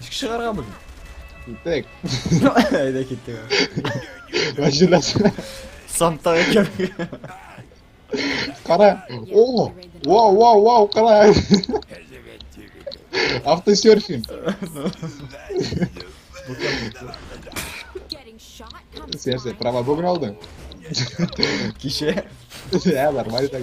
Ничек чыгарга бүген? Китек. Әйдә китте. Мәҗлесе. Санта икән. Кара. О! Вау, вау, вау, кара. Автосерфинг. Сен сен права бүгін алдың. Кеше. Ә, нормально так.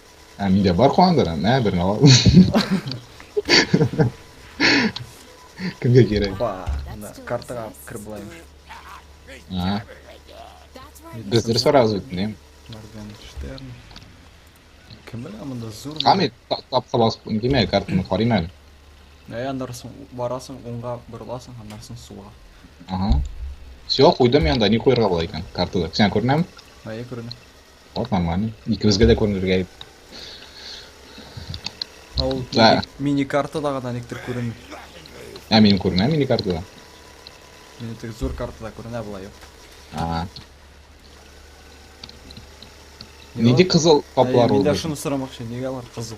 Ә миндә бар куандыры, мә берне ал. Кемгә кирәк? Ба, ана картага кіріп алайыншы. А. Без дөрес барабыз бит, нем. Моргенштерн. Кем белә монда зур. Камит тап калас, димә картаны карыйм әле. Ә анда барасың, уңга борыласың, аннан соң суга. Ага. Все, куйдым янда, ни куярга була икән картада. Сен күренәме? Әйе, күренә. Тапмамга ни. Икебезгә дә күренергә ит. Ә ул Да. мини- мини-картада гына никтер күренми. Ә мин күренә мини картада. Мин тек зур картада күренә болай юк. А. Нинди кызыл каплар Әйе, ул? Мин дә шуны сорамакчы, нигә алар кызыл?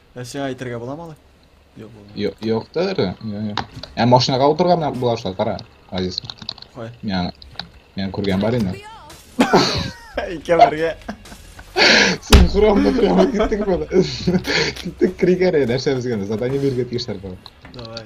Ә сиңа әйтергә буламы алай? Юк, булмый. Ё- Юктыр. Ё- ё. Ә машинага утырган менә болар шулай, кара. Азиз. Кай? Мен мен күргән бар инде. Икәүләргә. Синхронно прямо киттек бала. Киттек кригәре нәрсә безгә задание биргән тиешләр бар. Давай.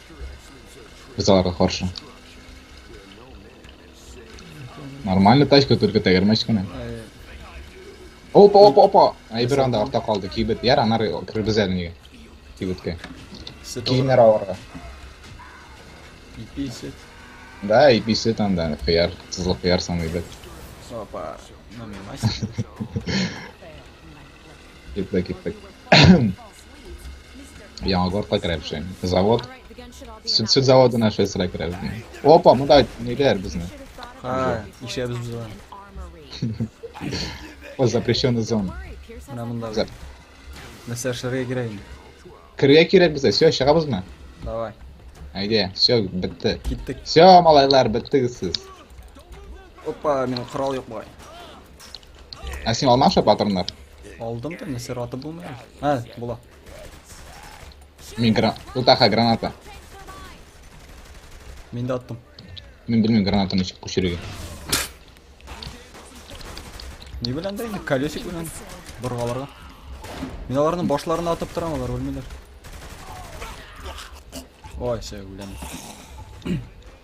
Без аларга каршы. Нормально тачка, только тәгәрмәч кенә. Опа, опа, опа! Әйбер анда арта калды. Кибет яр, анар кирбез әле нигә. Кибеткә. Киемнәр аларга. Ипи сет. Да, ипи сет анда, кыяр, тызлы кыяр саный бит. Опа, намемась. Китте, китте. Яңа горка керәпшен. Завод. Сүт, сүт заводы наша сыра керәпшин. Опа, мында ниләр безне. Ха, ишәбез без аны. О, запрещенный зон. Менә монда. Зап. Нәрсә эшләргә кирәк инде? Керә кирәк безгә. Все, чыгабызмы? Давай. Әйдә, все, бетте. Киттек. Все, малайлар, беттегез сез. Опа, минем корал юк бугай. Ә син алмашы патроннар? Алдым да, нәрсә раты булмый. Ә, була. Мин гран... Утаха граната. Мин дә аттым. Мин белмим гранатаны ничек күчерергә. Ни белән дә инде колесик белән боргаларга. Мин аларның башларына атып торам, алар үлмиләр. Ой, сәй үләм.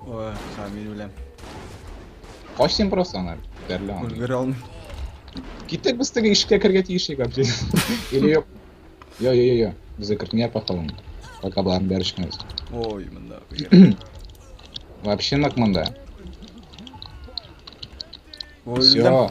Ой, Камиль белән. Кач син просто аны бәрелә. Өлгерә алмыйм. Киттек без теге ишеккә кергә тиеш иде капчи. Или юк. Йо, йо, йо, йо. Безгә кертмә пахалым. Пока барым бәришмәс. Ой, монда. Вообще нак монда. Ой, Все.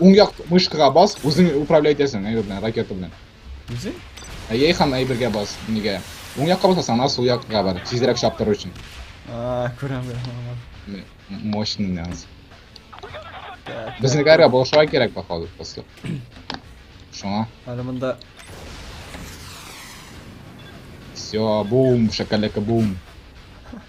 Уң як мышкага бас, үзең управлять итәсең, әйбер белән, ракета белән. Үзең? Әйе, һәм әйбергә бас, нигә? Уң якка басасаң, ана сул якка бар, тизрәк чаптыру өчен. А, күрәм, күрәм. Мощный нянс. Безне гәргә булышуга кирәк, походу, после. Шуңа. Әле монда... Все, бум, шакалека бум.